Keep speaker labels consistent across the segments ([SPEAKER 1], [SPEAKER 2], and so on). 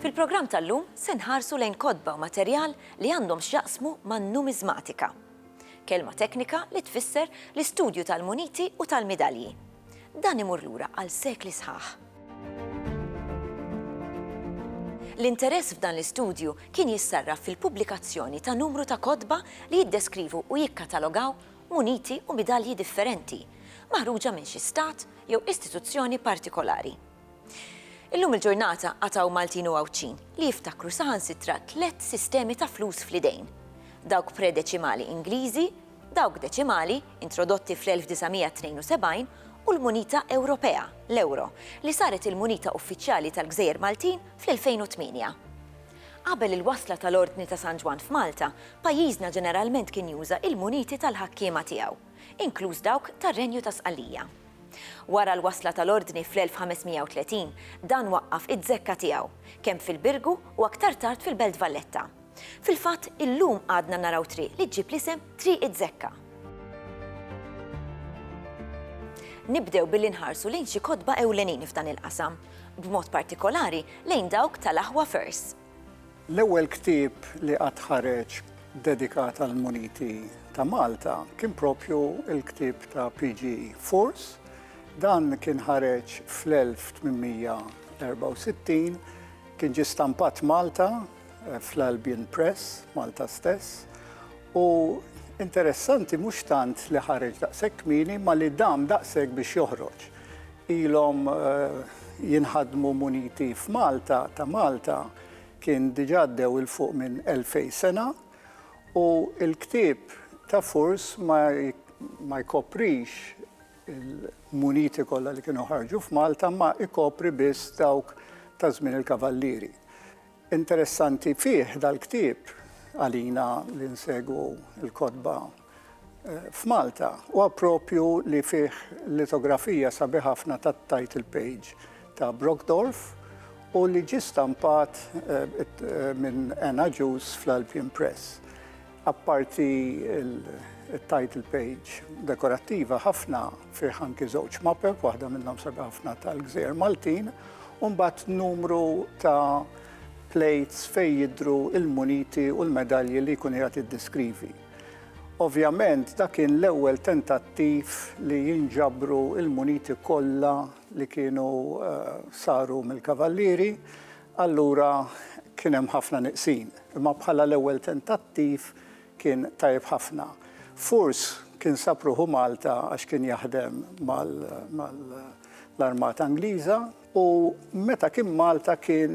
[SPEAKER 1] Fil-programm tal-lum se nħarsu lejn kodba u materjal li għandhom x'jaqsmu man-numiżmatika. Kelma teknika li tfisser l-istudju tal-muniti u tal-midalji. Dan imur lura għal sekli sħaħ. L-interess f'dan l-istudju kien jissarraf fil-pubblikazzjoni ta' numru ta' kodba li jiddeskrivu u jikkatalogaw muniti u midalji differenti maħruġa minn xi stat jew istituzzjoni partikolari. Illum il-ġurnata għad hawn Maltin u Għawdxin li jiftakru saħansitra tliet sistemi ta' flus fl-idejn, dawk predeċimali Ingliżi, dawk deċimali, introdotti fl-1972, u l-munita Ewropea, l-ewro, li saret il-munita uffiċjali tal-Gżejjer Maltin fl-2008. Qabel il-wasla tal-Ordni ta' San Ġwann f'Malta, pajjiżna ġeneralment kien juża il-muniti tal-ħakkiema tiegħu, inkluż dawk tar-Renju ta' Sqallija. Wara l-wasla tal-Ordni fl-1530, dan waqqaf iz-zekka tiegħu, kemm fil-Birgu u aktar tard fil-Belt Valletta. Fil-fatt, illum għadna naraw triq li ġġib l-isem Triq iz-Zekka. Nibdew billi nħarsu lejn xi kotba ewlenin f'dan il-qasam. b'mod partikolari lejn dawk tal-aħwa First. L-ewwel
[SPEAKER 2] ktieb li qatt ħareġ dedikat għall-muniti ta' Malta kien proprju l-ktieb ta' PG Furs. Dan kien ħareġ fl-1864, kien ġie stampat Malta eh, fl-Albion Press, Malta stess, U interessanti mhux tant li ħareġ daqshekk kmieni ma li dam daqshekk biex joħroġ. Ilhom eh, jinħadmu muniti f'Malta ta' Malta kien diġà dew il fuq minn 2000 sena u l-ktieb ta' Furs ma jkoprix il-muniti kollha li kienu ħarġu f'Malta ma ikopri biss dawk ta' żmien il-Kavallieri. Interessanti fih dal-ktieb, għalina li nsegwu l-kotba f'Malta, huwa proprju li fih litografija sabiħa ħafna tat-title page ta' Brockdorff u li ġie stampat minn Ann Agius fl-Albion Press. Apparti il-title page dekorattiva ħafna fih anki żewġ mapep, waħda minnhom sabi ħafna tal-Gżejjer Maltin, u mbagħad numru ta' plates fejn jidru il-muniti u l-medalji li jkun qiegħed jiddeskrivi. Ovvjament dak kien l-ewwel tentattiv li jinġabru il-muniti kollha li kienu eh, saru mill-Kavallieri Allura kien hemm ħafna nieqsin, imma bħala l-ewwel tentattiv kien tajjeb ħafna. Furs kien sab ruħu Malta għax kien jaħdem mal-Armata Ingliża u meta kien Malta kien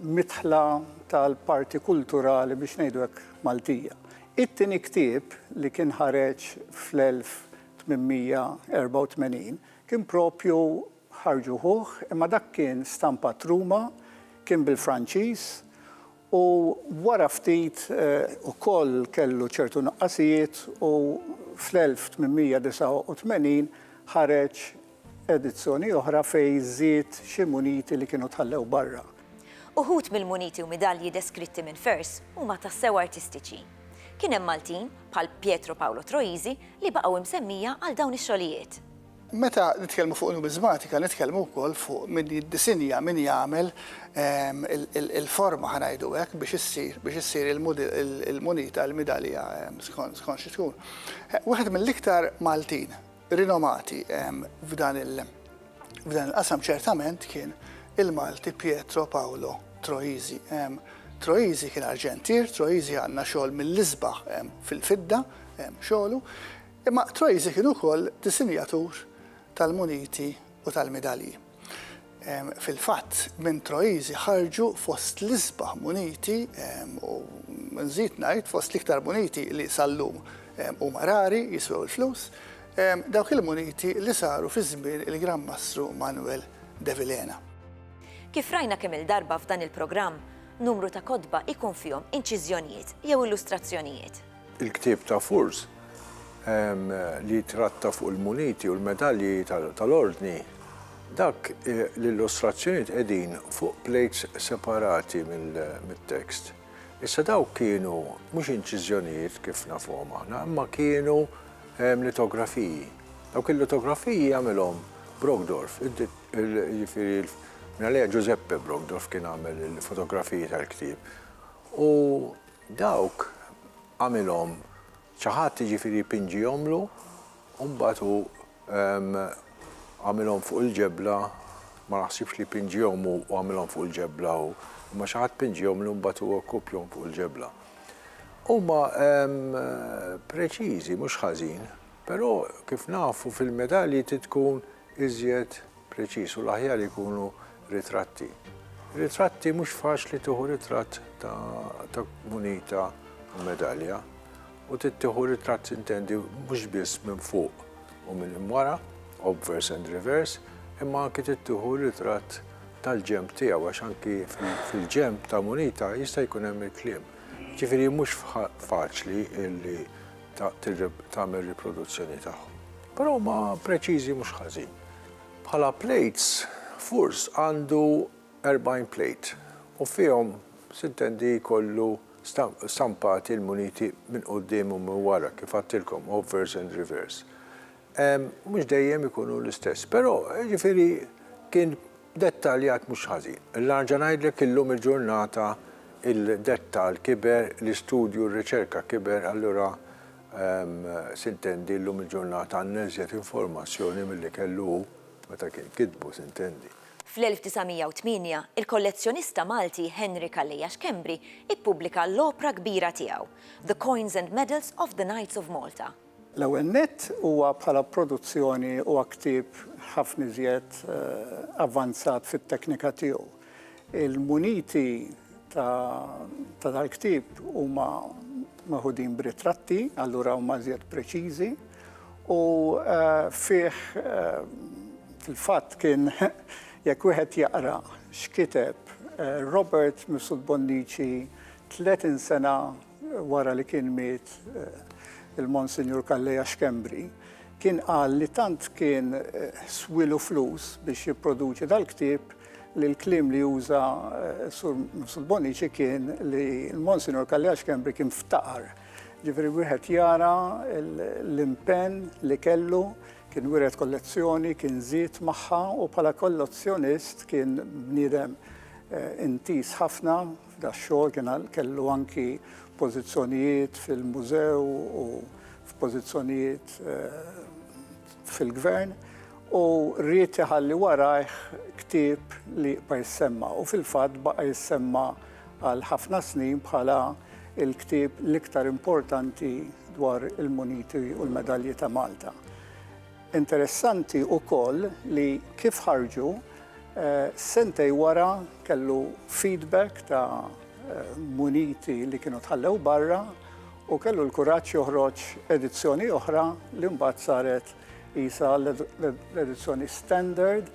[SPEAKER 2] midħla tal-parti kulturali biex ngħidu hekk Maltija. It-tieni ktieb li kien ħareġ fl-1884 kien proprju Ħarġu ħuh, imma dak kien stampat Ruma, kien bil-Franċiż u wara ftit ukoll kellu ċertu nuqqasijiet u fl-1889 ħareġ edizzjoni oħra fejn żied xi muniti li kienu tħallew barra. Uħud
[SPEAKER 1] mill-muniti u midalji deskritti minn Furse huma tassew artistiċi. Kien hemm Maltin, bħal Pietro Paolo Troisi, li baqgħu msemmija għal dawn ix-xogħlijiet. Meta
[SPEAKER 3] nitkellmu fuq numiżmatika nitkellmu wkoll fuq min jiddisinja, min jagħmel il-forma ħa ngħidu hekk biex issir biex issir il-munita, il-midalja skont xi tkun. Wieħed mill-iktar Maltin rinomati f'dan il-qasam ċertament kien il-Malti Pietro Paolo Troisi. Troisi kien arġentier, Troisi għandna xogħol mill-isbaħ fil-fidda xogħlu. Imma Troisi kien ukoll disinjatur tal-muniti u tal-midalji. Fil-fatt, minn Troisi ħarġu fost l-isbaħ muniti u, nżid ngħid, fost l-iktar muniti li sal-lum huma rari, jiswew il-flus, dawk il-muniti li saru fi żmien il-Gran Mastru Manuel de Vilhena. Kif
[SPEAKER 1] rajna kemm-il darba f'dan il-programm, numru ta' kotba jkun fihom inċiżjonijiet jew illustrazzjonijiet. Il-ktieb ta'
[SPEAKER 4] Furz li jitratta fuq il-muniti u l-medalji tal-Ordni, dak l-illustrazzjonijiet qegħdin fuq plejts separati mit-tekst. Issa dawk kienu mhux inċiżjonijiet kif nafuhom aħna, imma kienu litografiji. Dawk il-litografiji għamilhom Brogdorf, jiġifieri minn għaliha Ġużeppe Brogdorf kien għamel il-fotografiji tal-ktieb. U Dawk għamilhom xi ħadd, jiġifieri pinġihomlu, u mbagħad hu għamilhom fuq il-ġebla, ma naħsibx li pinġihom hu u għamilhom fuq il-ġebla hu, imma xi ħadd pinġihomlu mbagħad hu rkupjhom fuq il-ġebla. Huma preċiżi mhux ħażin, però kif nafu fil-medalji trid tkun iżjed. preċiż u l-aħjar ikunu ritratti. Ritratti mhux faċli tieħu ritratt ta' munita u medalja u tittieħu ritratt intendi mhux biss minn fuq u minn imwara, obvers and reverse, imma anki tittieħu ritratt tal-ġemp tiegħu għax anki fil-ġemp ta' munita jista' jkun hemm il-kliem. Ġifieri mhux faċli illi tagħmel riproduzzjoni tagħhom. Però huma preċiżi mhux ħażin. Bħala plates, furs għandu 40 plate u fihom sintendi jkollu stampati l-muniti minn quddiem u minn wara, kif għadtilkom, obverse and reverse. Mhux dejjem ikunu l-istess, però, jiġifieri kien dettaljat mhux ħażin. Nerġa' ngħidlek illum il-ġurnata il-dettall kiber, l-istudju, r-riċerka kiber, allura S'intendi llum il-ġurnata għandna iżjed informazzjoni milli kellu hu meta kien kitbu, s'intendi. Fl-1908,
[SPEAKER 1] il-kollezzjonista Malti Henry Calleja Schembri ppubblika l-opra kbira tiegħu, The Coins and Medals of the Knights of Malta. L-ewwel nett,
[SPEAKER 2] huwa bħala produzzjoni huwa ktieb ħafna iżjed avvanzat fit-teknika tiegħu. Il-muniti ta' dal-ktieb huma meħudin b'ritratti, allura huma iżjed preċiżi, u fih fil-fatt kien jekk wieħed jaqra x'kiteb Robert Mifsud Bonnici 30 sena wara li kien miet il-Monsinjur Calleja Schembri, kien qal li tant kien swielu flus biex jipproduċi dal-ktieb li l-kliem li uża Sur Mifsud Bonnici kien li l-Monsinjur Kalleja Xkembri kien ftaqar. Ġifieri wieħed jara l-impenn li kellu, kien wiret kollezzjoni, kien żied magħha u bħala kollezzjonist kien bniedem intiż ħafna f'dax-xogħol, kien kellu anki pożizzjonijiet fil-mużew u f'pożizzjonijiet fil-Gvern u ried iħalli warajh ktieb li jibqa' jissemma u fil-fatt baqa' jissemma għal ħafna snin bħala l-ktieb l-iktar importanti dwar il-muniti u l-medalji ta' Malta. Interessanti wkoll li kif ħarġu sentej wara kellu feedback ta' muniti li kienu tħallew barra u kellu l-kuraġġ joħroġ edizzjoni oħra li mbagħad saret qisha l-edizzjoni standard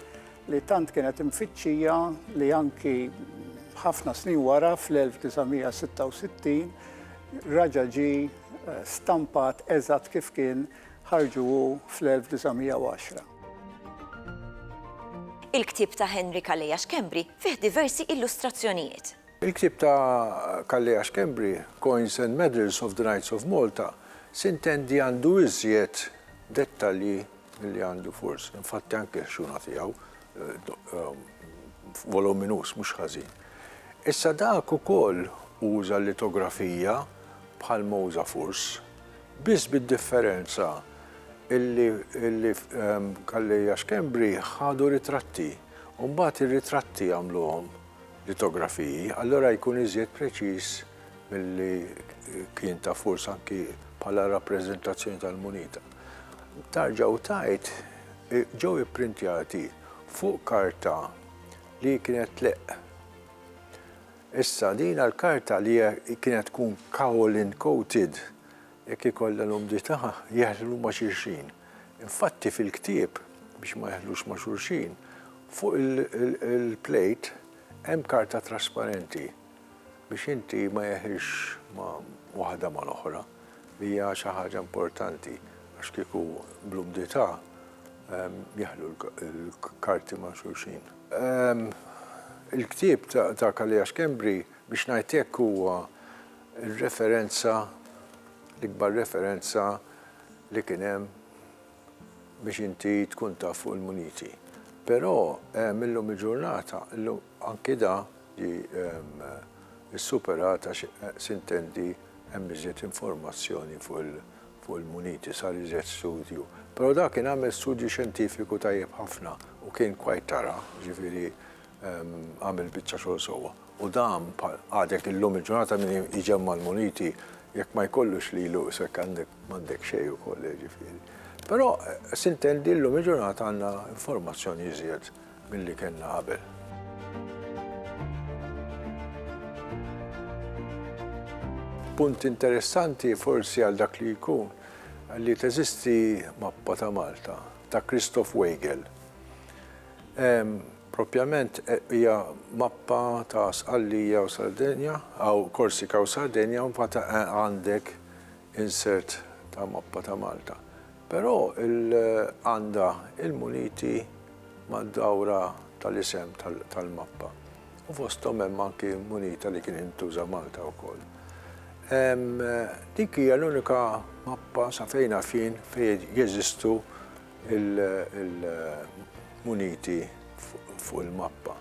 [SPEAKER 2] li tant kienet imfittxija li anki ħafna snin wara fl-1966 raġa ġi eh, stampat eżatt kif kien ħarġu fl-1910.
[SPEAKER 1] Il-ktib ta' Henry Kaleja Xkembri fih diversi illustrazzjonijiet. Il-ktieb ta'
[SPEAKER 4] Calleja Schembri, Coins and Medals of the Knights of Malta, sintendi għandu iżjed dettalji milli għandu forsi, infatti anke l-ħxuna tiegħu, voluminus mhux ħażin. Issa dak ukoll uża l-litografija bħal ma uża Furs, biss bid-differenza illi Calleja Schembri ħadu ritratti u mbagħad ir-ritratti għamluhom. litografiji, allura jkun iżjed preċiż milli kien ta' furs anki bħala rappreżentazzjoni tal-munita. Tarġa u tajt ġew ipprintjati fuq karta li kienet tleqq. Issa din l-karta li kienet tkun kaolin coated jekk ikollha l-umdità jeħlu ma' xulxin. Infatti fil-ktieb, biex ma jeħlux ma' xulxin, fuq il-plejt hemm karta trasparenti biex inti ma jeħilx ma' waħda mal-oħra li hija xi ħaġa importanti għax kieku bl-umdità jeħlu l-karti ma' xulxin. Il-ktieb ta' Kalea Schembri biex ngħid hekk huwa r-referenza, l-ikbar referenza, li kien hemm biex inti tkun taf fuq il-muniti. Però ehm illum il-ġurnata, illum anki da ġie ehm issuperat għax sintendi hemm iżjed informazzjoni fuq il fuq il-muniti, sar iżjed studju. Però da kien għamel studju xjentifiku tajjeb ħafna u kien quite thorough, jiġifieri għamel biċċa xogħol sewwa. U dan għadek illum il-ġurnata min iġemma l-muniti jekk ma jkollux lilu isek għandek m'għandek xejn ukoll eh, ġifieri. Però eh, sintendi llum il-ġurnata għandna informazzjoni iżjed milli kellna qabel. Punt interessanti forsi għal dak li jkun li teżisti mappa ta' Malta ta' Christoph Weigel Proprjament hija mappa ta' Sqallija u Sardegna, hawn Korsika u Sardegna u mbagħad għandek insert ta' mappa ta' Malta. Però għandha il-muniti mad-dawra tal-isem tal-mappa u fosthom hemm anki munita li kienet intuża Malta wkoll. Dik hija l-unika mappa sa fejn naf jien fejn jeżistu il-muniti fuq il-mappa.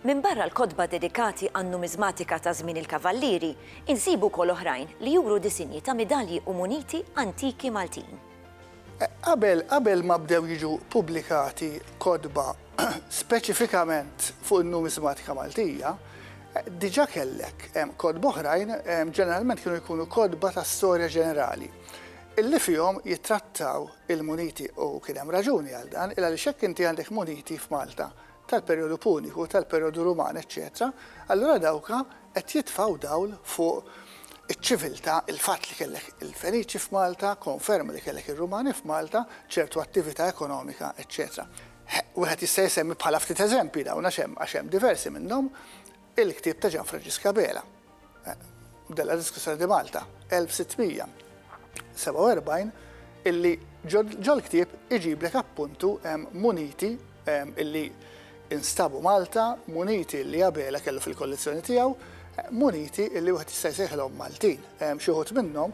[SPEAKER 4] Minbarra
[SPEAKER 1] l-kotba dedikati għan-numiżmatika ta' żmien il-Kavallieri, insibu wkoll oħrajn li juru disinji ta' midalji u muniti antiki Maltin.
[SPEAKER 3] Qabel ma bdew jiġu ppubblikati kotba speċifikament fuq in-numiżmatika Maltija, diġà kellek kotba oħrajn, ġeneralment kienu jkunu kotba ta' storja ġenerali. Illi fihom jittrattaw il-muniti u kien hemm raġuni għal dan, il-għaliex jekk inti għandek muniti f'Malta tal-perjodu puniku, tal-perjodu ruman eċċetera, allura dawka qed jitfgħu dawl fuq iċ-ċiviltà, il-fatt li kellek il-Feniċi f'Malta, konferma li kellek ir-Rumani f'Malta, ċertu attività ekonomika eċċetera. Wieħed jista' jsemmi bħala ftit eżempji dawn għax hemm għax hemm diversi minnhom il-ktieb ta' Ġanfranġisk Abela. della Discussione di Malta 1647 illi ġol-ktieb iġiblek appuntu muniti illi instabu Malta, muniti illi Abela kellu fil-kollezzjoni tiegħu, muniti illi wieħed jista' jsejħilhom Maltin. Xi wħud minnhom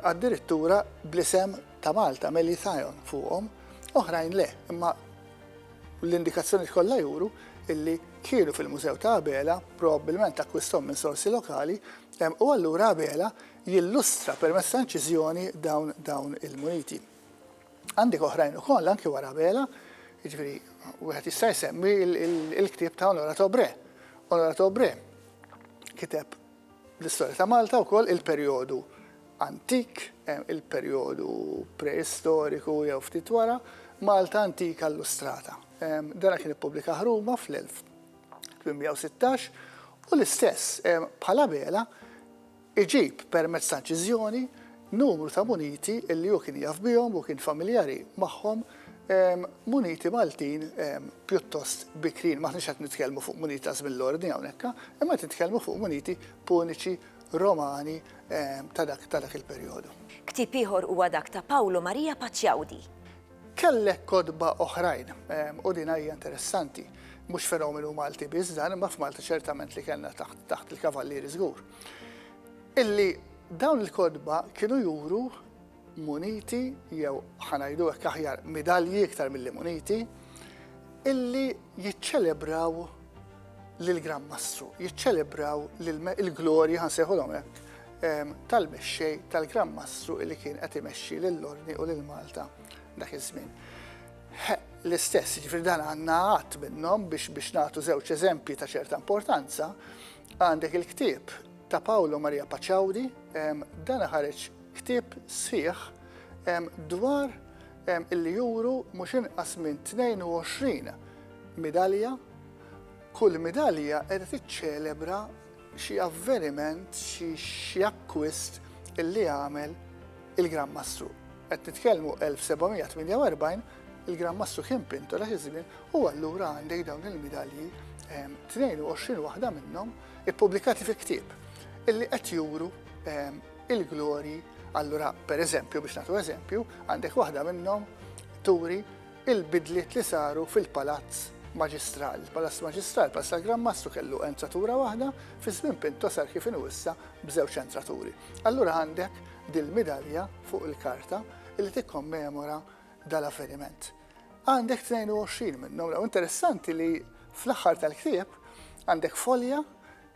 [SPEAKER 3] addirittura bl-isem ta' Malta, Melithaeon fuqhom, oħrajn le, imma L-indikazzjonijiet kollha juru illi kienu fil-Mużew ta' Abela, probabbilment akkwistahom minn sorsi lokali, u allura Abela jillustra permezz ta' inċiżjoni dawn dawn il-muniti. Għandek oħrajn ukoll anki wara Abela, jiġifieri wieħed jista' jsemmi l-ktieb ta' Honorat Obre. Honorat Obre kiteb L-istorja ta' Malta wkoll il-perjodu antik, il-perjodu preistoriku jew ftit wara, Malta Antika Illustrata. Dan kien ippubblikah Ruma fl-1816 u l-istess, bħala bela, iġib permezz ta' inċiżjoni numru ta' muniti li hu kien jaf bihom u kien familjari magħhom. muniti Maltin pjuttost bikrin, maħniex qed nitkellmu fuq muniti ta' żmien l-ordni hawnhekk, imma qed nitkellmu fuq muniti puniċi Romani ta' dak il-perjodu. Ktieb ieħor huwa
[SPEAKER 1] dak ta' Pawlu Marija Paċjaudi. Kellek
[SPEAKER 3] kotba oħrajn, u din hija interessanti, mhux fenomenu Malti biss dan, imma f'Malta ċertament li kellna taħt il-Kavallieri żgur, illi dawn il-kotba kienu juru muniti jew ħa ngħidu hekk aħjar midalji iktar milli muniti illi jiċċelebraw lill-Gran Mastru, jiċċelebraw il-glorja ħansejħulhom hekk ehm, tal-mexxej tal-Gran Mastru illi kien qed imexxi lill-Orni u lil Malta dak iż-żmien. L-istess, ġifri dan għandna għadd minnhom biex biex nagħtu żewġ eżempji ta' ċerta importanza, għandek il-ktieb ta' Paolo Maria Paċawdi, ehm, dan ħareġ Ktieb sħiħ dwar illi juru mhux inqas minn 22 midalja, kull midalja qiegħda tiċċelebra xi avveniment, xi akkwist illi għamel il-Gran Mastru. Qed nitkellmu 1748, il-Gran Mastru kien pintor għax iż-żmien u allura għandek dawn il-midalji 22 waħda minnhom ippubblikati fi ktieb illi qed juru il-glorji, allura pereżempju biex nagħtu eżempju, għandek waħda minnhom turi il-bidliet li saru fil-palazz maġistral. Palazz maġistral, palazz tal-Gran Mastru kellu entratura waħda, fi żmien Pinto sar kif inhu issa b'żewġ entraturi. Allura għandek dil-midalja fuq il-karta li tikkommemora dal-avveniment. Għandek 22 minnhom, raw interessanti li fl-aħħar tal-ktieb għandek folja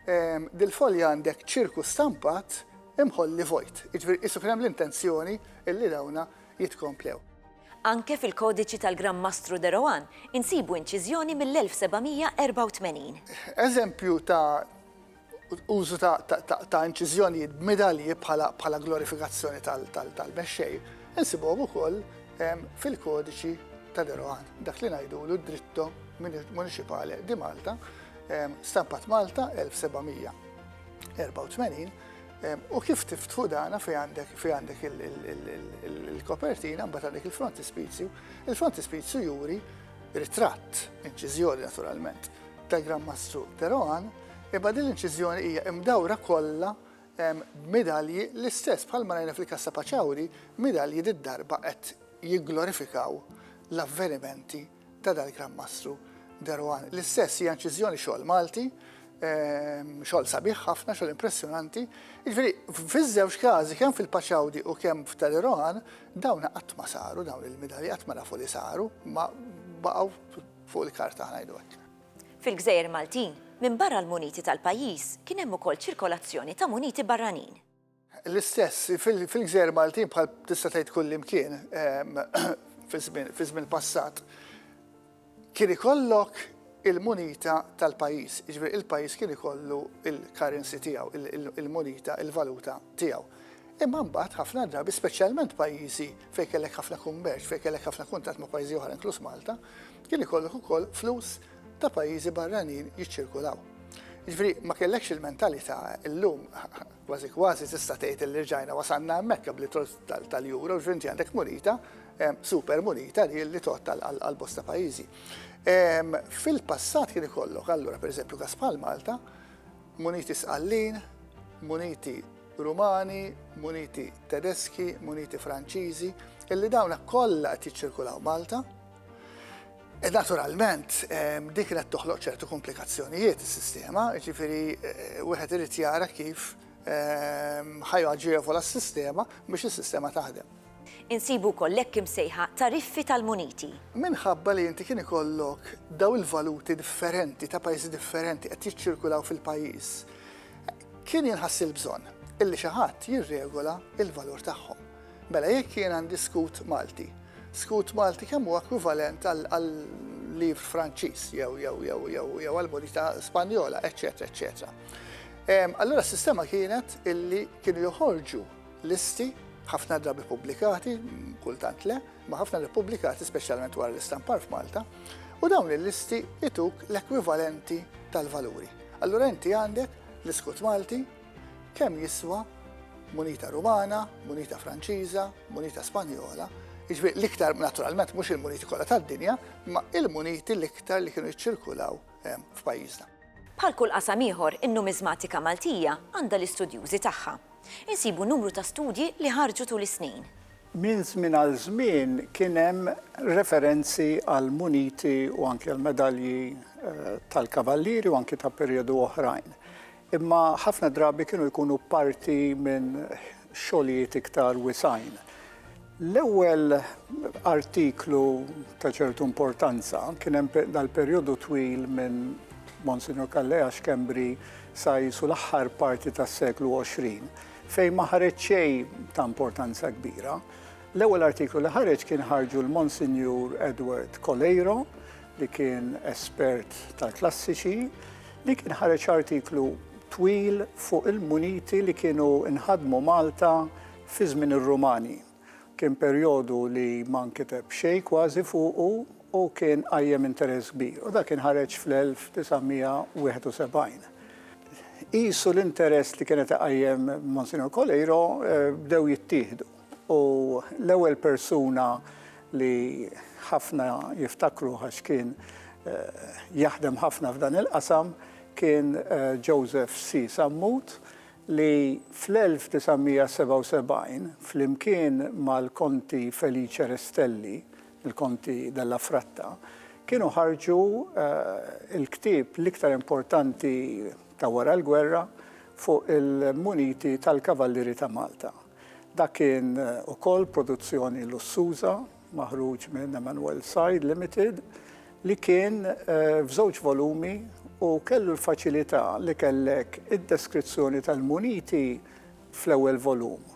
[SPEAKER 3] Dil-folja għandek ċirku stampat imħolli vojt, jiġifieri qisu kien hemm l-intenzjoni li dawna jitkomplew. Anke
[SPEAKER 1] fil-Kodiċi tal-Gran Mastru de Rohan insibu inċiżjoni mill-1784. Eżempju
[SPEAKER 3] ta' użu ta' inċiżjonijiet b'midalji bħala glorifikazzjoni tal-mexxej insibuhom ukoll fil-Kodiċi ta' de Rohan, dak li ngħidulu d-Dritto Municipale di Malta, Stampat Malta 1784 u kif tiftħu dana fi għandek fi għandek il-kopertina mbagħad għandek il-frontispizju. Il-frontispizju juri ritratt, inċiżjoni naturalment, ta' Gran Mastru Teroan, imma din l-inċiżjoni hija imdawra kollha b'medalji l-istess bħal ma rajna fil-Kassa Paċawri, medalji d-darba qed jigglorifikaw l-avvenimenti ta' dal-Gran Mastru De Rohan. L-istess hija inċiżjoni xogħol Malti, xogħol sabiħ ħafna, xogħol impressjonanti. Jiġifieri fiż-żewġ każi kemm fil-Paċawdi u kemm f'Ta' De Rohan dawn qatt ma saru dawn il-midali qatt ma nafu li saru, ma baqgħu fuq il-karta ngħidu hekk. Fil-gżejjer
[SPEAKER 1] Maltin, minbarra l-muniti tal-pajjiż, kien hemm ukoll ċirkolazzjoni ta' muniti barranin. L-istess,
[SPEAKER 3] fil-gżejjer Maltin bħal tista' tgħid kullimkien fi żmien passat, kien ikollok il-munita tal-pajjiż, jiġifieri il-pajjiż kien ikollu l-currency tiegħu, il-munita, il-valuta tiegħu. Imma mbagħad ħafna drabi, speċjalment pajjiżi fejn kellek ħafna kummerċ, fejn kellek ħafna kuntatt ma' pajjiżi oħra inkluż Malta, kien ikollok ukoll flus ta' pajjiżi barranin jiċċirkulaw. Jiġifieri ma kellekx il-mentalità llum Kważi kważi tista' tgħid li rġajna wasalna hemmhekk qabel it-trolls tal-Euro, ġifieri inti għandek munita, super munita li tgħodd għal bosta pajjiżi. Fil-passat kien ikollok allura pereżempju każ bħal Malta, muniti Sqallin, muniti Rumani, muniti Tedeski, muniti Franċiżi, illi dawna kollha qed jiċċirkulaw Malta. Naturalment, dik kienet toħloq ċertu komplikazzjonijiet is-sistema, jiġifieri wieħed irid jara kif ħa jaġevola s-sistema biex is-sistema taħdem. Insibu wkoll
[SPEAKER 1] l-hekk imsejħa tariffi tal-muniti. Minħabba li
[SPEAKER 3] inti kien ikollok dawn il-valuti differenti ta' pajjiżi differenti qed jiċċirkulaw fil-pajjiż, kien jinħass il-bżonn illi xi ħadd jirregola l-valur tagħhom. Mela jekk jien għandi skut Malti, skut Malti kemm huwa ekwivalent għal livr Franċiż jew jew jew jew jew għal monita Spanjola, eċċetera, eċċetera. Allura s-sistema kienet illi kienu joħorġu listi ħafna drabi pubblikati, kultant le, ma ħafna li pubblikati speċjalment wara l-istampar f'Malta, u dawn il-listi ituk l-ekwivalenti tal-valuri. Allura inti għandek l-iskut Malti, Kemm jiswa munita Rumana, munita Franċiża, munita Spanjola, jiġifieri l-iktar naturalment mhux il-muniti kollha tad-dinja, imma il-muniti l-iktar li kienu jiċċirkulaw ehm, f'pajjiżna. Bħal kull
[SPEAKER 1] qasam ieħor, in-numiżmatika Maltija għandha l-istudjużi tagħha. Insibu numru ta' studji li ħarġu tul is-snin. Minn żmien
[SPEAKER 2] għal żmien kien hemm referenzi għal muniti u anke l-medalji eh, tal-kavallieri u anke ta' perjodu oħrajn. Imma ħafna drabi kienu jkunu parti minn xogħlijiet iktar wisgħin. L-ewwel artiklu ta' ċertu importanza kien hemm dal-perjodu twil minn Monsignor Callea Schembri sa jisu l-aħħar parti tas-seklu 20 fejn ma ħareġ xejn ta' importanza kbira. L-ewwel artiklu li ħareġ kien ħarġu l-Monsignur Edward Coleiro li kien espert tal-klassiċi, li kien ħareġ artiklu twil fuq il-muniti li kienu nħadmu Malta fi żmien ir-Rumani. Kien perjodu li ma nkiteb xejn kważi fuqu u kien qajjem interess kbir, u dak kien ħareġ fl-1971. Qisu l-interess li kien qed iqajjem Monsinjur Coleiro bdew jittieħdu. U l-ewwel persuna li ħafna jiftakruh għax kien jaħdem ħafna f'dan il-qasam kien Joseph C. Sammut li fl-1977 flimkien mal-Konti Felice Restelli, il-Konti della Fratta, kienu ħarġu l-ktieb l-iktar importanti ta' wara l-gwerra fuq il-muniti tal-Kavallieri ta' Malta. Dak kien ukoll produzzjoni lussuża maħruġ minn Emmanuel Said Limited li kien f'żewġ volumi u kellu l-faċilità li kellek id-deskrizzjoni tal-muniti fl-ewwel volum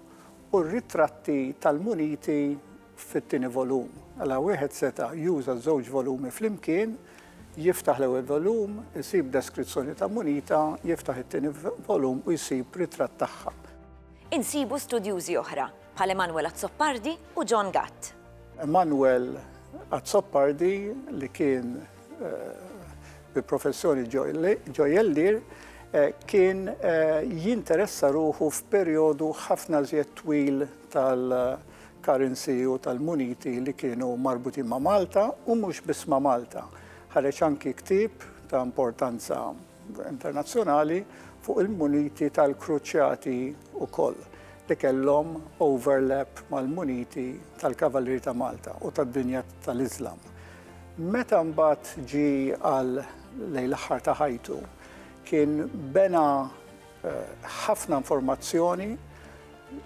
[SPEAKER 2] u r-ritratti tal-muniti fit-tieni volum. Mela wieħed seta' juża ż-żewġ volumi flimkien, jiftaħ l-ewwel volum, isib deskrizzjoni ta' munita, jiftaħ it-tieni volum u jsib ritratt tagħha. insibu
[SPEAKER 1] studjużi oħra, bħal Emanuel Azzopardi u John Gatt. Emanuel
[SPEAKER 2] Azzopardi li kien bi professjoni ġojellier kien jinteressa ruħu f'perjodu ħafna żjed twil tal-currency u tal-muniti li kienu marbutin ma' Malta u mhux biss ma' Malta. Ħareġ anki ktieb ta' importanza internazzjonali fuq il-muniti tal-kruċjati wkoll li kellhom overlap mal-muniti tal-Kavallieri ta' Malta u tad-dinja tal-Iżlam. Meta mbagħad ġi għal lejn l-aħħar ta' ħajtu, kien bena eh, ħafna informazzjoni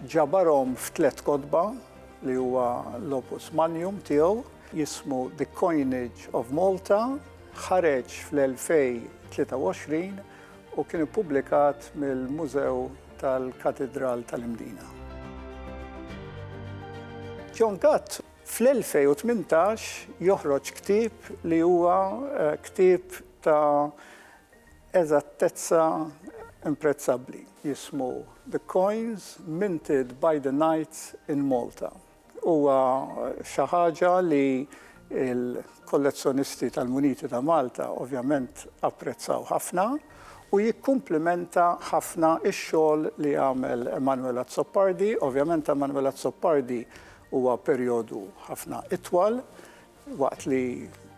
[SPEAKER 2] ġabarhom f'tlet kotba li huwa l-Opus Magnum tiegħu jismu The Coinage of Malta, ħareġ fl-2023 u kien ippubblikat mill-Mużew tal-Katidral tal-Imdina. John Gatt fl-2018 joħroġ ktieb li huwa ktieb ta' eżattezza imprezzabbli, jismu The Coins Minted by the Knights in Malta. Huwa xi ħaġa li l-kollezzjonisti tal-muniti ta' Malta ovvjament apprezzaw ħafna u jikkumplimenta ħafna x-xogħol li għamel Emanuel Azzopardi. Ovvjament ta' Emanuel Azzopardi huwa perjodu ħafna itwal Waqt li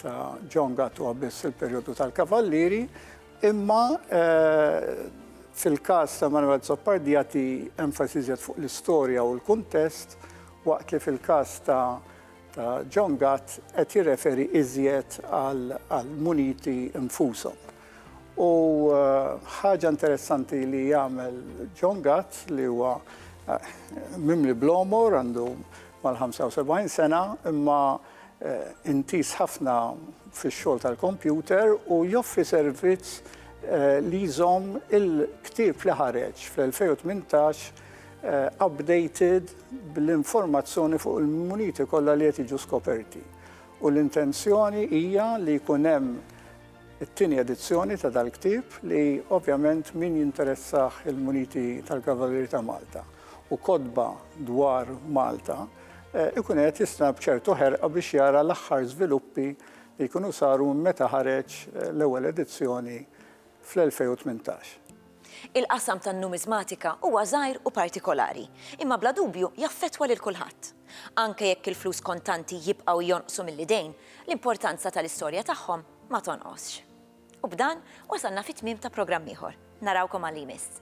[SPEAKER 2] ta' John Gatt huwa biss il-perjodu tal-Kavallieri, imma fil-każ ta' Manuel Zoppardi jagħti enfasi żjed fuq l-istorja u l-kuntest, waqt li fil-każ ta' ta' John Gatt qed jirreferi iżjed għall-muniti nfushom. U ħaġa interessanti li jagħmel John Gatt li huwa eh, mimli blomor għandu mal-75 sena imma eh, intis ħafna fix-xogħol tal-kompjuter u joffri servizz eh, li jżomm il-ktieb li ħareġ fl-2018 updated bl-informazzjoni fuq il-muniti kollha li qed jiġu skoperti. U l-intenzjoni hija li jkun hemm It-tieni edizzjoni ta' dal-ktieb li ovvjament min jinteressah il-muniti tal-Kavalieri ta' Malta u kotba dwar Malta ikun qiegħed jistenna b'ċertu ħerqa biex jara l-aħħar żviluppi li jkunu saru minn meta ħareġ l-ewwel edizzjoni fl-2018.
[SPEAKER 1] Il-qasam tan-numiżmatika huwa żgħir u partikolari, imma bla dubju jaffettwa lil kulħadd. Anke jekk il-flus kontanti jibqgħu jonqsu mill-idejn, l-importanza tal-istorja tagħhom ma tonqosx. U b'dan wasalna fit-tmiem ta' programm ieħor. Narawkom għal li jmiss.